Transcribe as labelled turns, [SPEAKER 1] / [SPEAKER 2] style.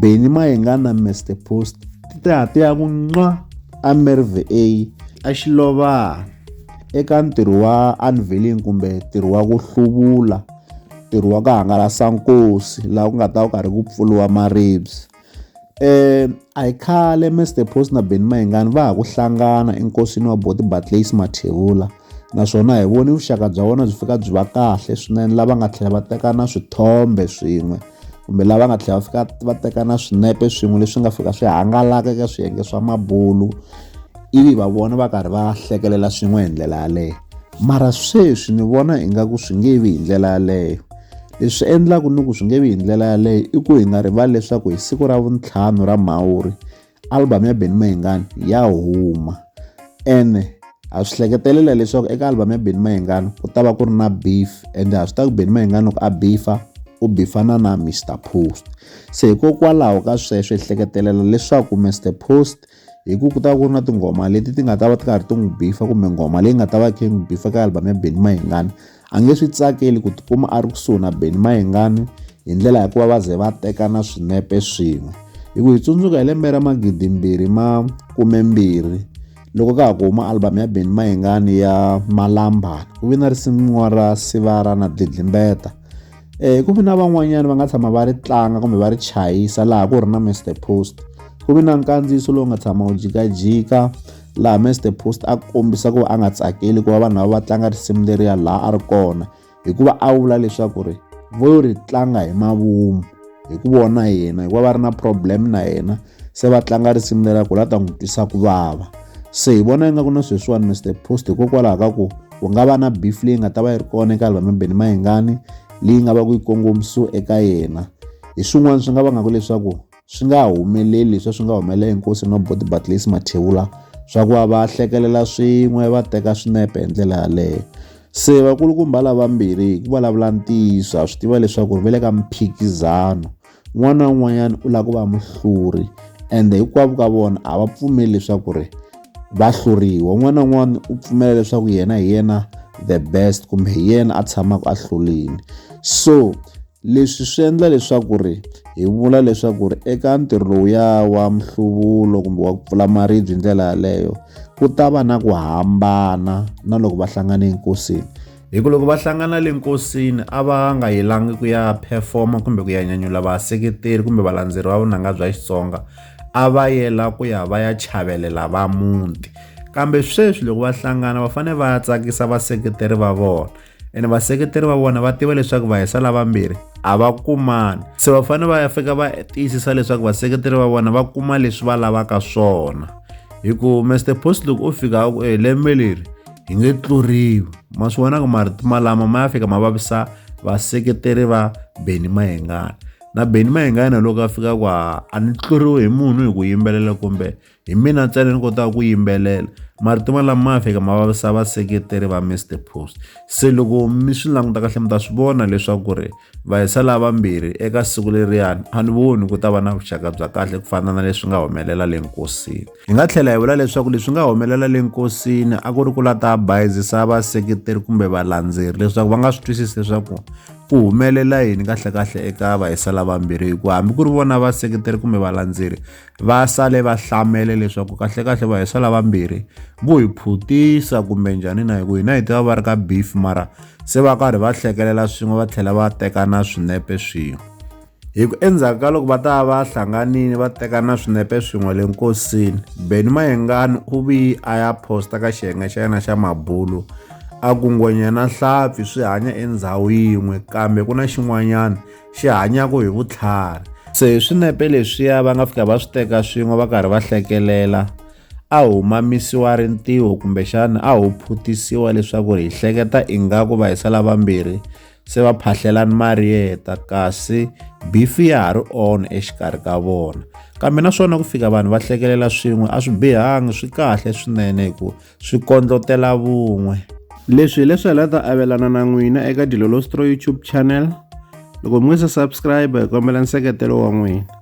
[SPEAKER 1] Benny Mayengana Mr Post ti te ha ti ya ku nqa eMerve A eXilovani eka ntirho wa unveiling kumbe ntirho wa ku hluvula ntirho wa ku hangalasa nkosi laha ku nga ta ku karhi ku pfuriwa maribye um a hi khale Mr Post na Benny Mayengani va ha ku hlangana enkosini wa Buti Bartleys Mathebula. naswona hi vone vuxaka bya vona byi fika byi va kahle swinene lava nga tlhela va teka na swithombe swin'we kumbe lava nga tlhela va fika va teka na swinepe swin'we leswi nga fika swi hangalaka eka swiyenge swa mabulu ivi va vona va karhi va hlekelela swin'we hi ndlela yaleyo mara sweswi ni vona ingaku swi nge vi hi ndlela yaleyo leswi endlaku ni ku swi nge vi hi ndlela yaleyo i ku hi nga rivali leswaku hi siku ra vuntlhanu ra mhawuri album ya Benny Mayengani ya huma ene ha swi hleketelela leswaku eka album ya Benny Mayengani ku ta va ku ri na beef ende ha swi ta ku Benny Mayengani loko a beefa u bifana na Mr Post se hikokwalaho ka sweswo hi hleketelela leswaku Mr Post hi ku ku ta ku ri na tinghoma leti ti nga ta va ti karhi ti n'wi bifa kumbe nghoma leyi nga ta va khe n'wi bifa ka album ya Benny Mayengani A nge swi tsakeli ku tikuma a ri kusuhi na Benny Mayengani hi ndlela ya ku va va ze va tekana swinepe swin'we. Hi ku hi tsundzuka hi lembe ra magidimbirhi ma kumembirhi loko ka ha ku huma album ya Benny Mayengani ya Malambana ku ve na risimu ra Sivara na Dlidlimbeta ku vi na van'wanyana va nga tshama va ri tlanga kumbe va ri chayisa laha ku ri na Mister Post ku vi na nkandziyiso lowu nga tshama wu jikajika laha Mister Post a kombisa ku va a nga tsakeli ku va vanhu lava va tlanga risimu leriya laha a ri kona hikuva a vula leswaku ri vo ri tlanga hi mavunwa hi ku vona yena hikuva va ri na problem na yena se va tlanga risimu lera ku la ta n'wi twisa ku vava se hi vona ingaku na sweswiwani mr post hikokwalaho ka ku ku nga va na beef leyi nga ta va yi ri kona eka album beni mahingani leyi nga va ku yi kongomisiwe eka yena hi swin'wana swi nga vangaku leswaku swi nga humeleli leswi swi nga humelela enkosi no body batlesi mathewula swa ku va va hlekelela swin'we va teka swinepe hi ndlela yaleyo se vakulukumba lavambirhi hi ku vulavula ntiyiso ha swi tiva leswaku ri ve le ka mphikizano un'wana na un'wanyana u lava ku va muhluri ende hinkwavo ka vona a va pfumeli leswaku ri va hluriwa un'wana na un'wana u pfumela leswaku yena hi yena the best kumbe hi yena a tshamaka a hlulini so leswi swi endla leswaku ri hi vula leswaku ri eka ntirho lowuya wa mihluvulo kumbe wa ku pfula maribye hi ndlela yaleyo ku ta va na ku hambana na loko va hlangane enkosini hi ku loko va hlangana le nkosini a va nga yelangi ku ya performa kumbe ku ya nyanyula vaseketeri kumbe valandzeri va vunanga bya xitsonga a va yela ku ya va ya chavelela va muti kambe sweswi loko va hlangana va fanele va ya tsakisa vaseketeri va vona ene vaseketeri va vona va tiva leswaku va hisa lavambirhi a va kumani se va fanele va ya fika va tiyisisa leswaku vaseketeri va vona va kuma leswi va lavaka swona hi ku mr post loko u fika a ku e lembe leri hi nge tluriwi ma swi vonaka marito malama ma ya fika ma vavisa vaseketeri va Benny Mayengana na Benny Mayengana loko a fika kwa a ni tluriwe hi munhu hi ku yimbelela kumbe hi mina ntsena ni kotaka ku yimbelela marito malama ma ya fika ma vavisa vaseketeri va Mr Post se loko mi swi languta kahle mi ta swi vona leswaku ri va hisa lavambirhi eka siku leriyani a ni voni ku ta va na vuxaka bya kahle ku fana na leswi nga humelela le nkosini hi nga tlhela hi vula leswaku leswi nga humelela le nkosini a ku ri ku la ta bayizisa vaseketeri kumbe valandzeri leswaku va nga swi twisisi leswaku ku humelela yini kahlekahle eka vahisa lavambirhi hikuva hambi ku ri vona vaseketeri kumbe valandzeri va sale va hlamele leswaku kahlekahle vahisa lavambirhi vo hi phutisa kumbe njhani na hi ku hina hi tiva va ri ka beef mara se va karhi va hlekelela swin'we va tlhela va teka na swinepe swin'we hi ku endzhaku ka loko va ta va hlanganile va teka na swinepe swin'we le nkosini beni mayengani u vi a ya posta ka xiyenge xa yena xa mabulu a ku ngwenya na hlampfi swi hanya endhawu yin'we kambe ku na xin'wanyana xi hanyaka hi vutlhari se hi swinepe leswiya va nga fika va swi teka swin'we va karhi va hlekelela a hu mamisiwa rintiho kumbexana a hu phutisiwa leswaku hi hleketa ingaku vayisala vambirhi se va phahlelani mariyeta kasi bifi ya ha ri on exikarhi ka vona kambe naswona ku fika vanhu va hlekelela swin'we a swi bihangi swi kahle swinene hi ku swi kondlotela vun'we leswi hileswi hi la ta avelana na n'wina eka dilolostro youtube channel loko mi nga se subscribe hi kombela nseketelo wa n'wina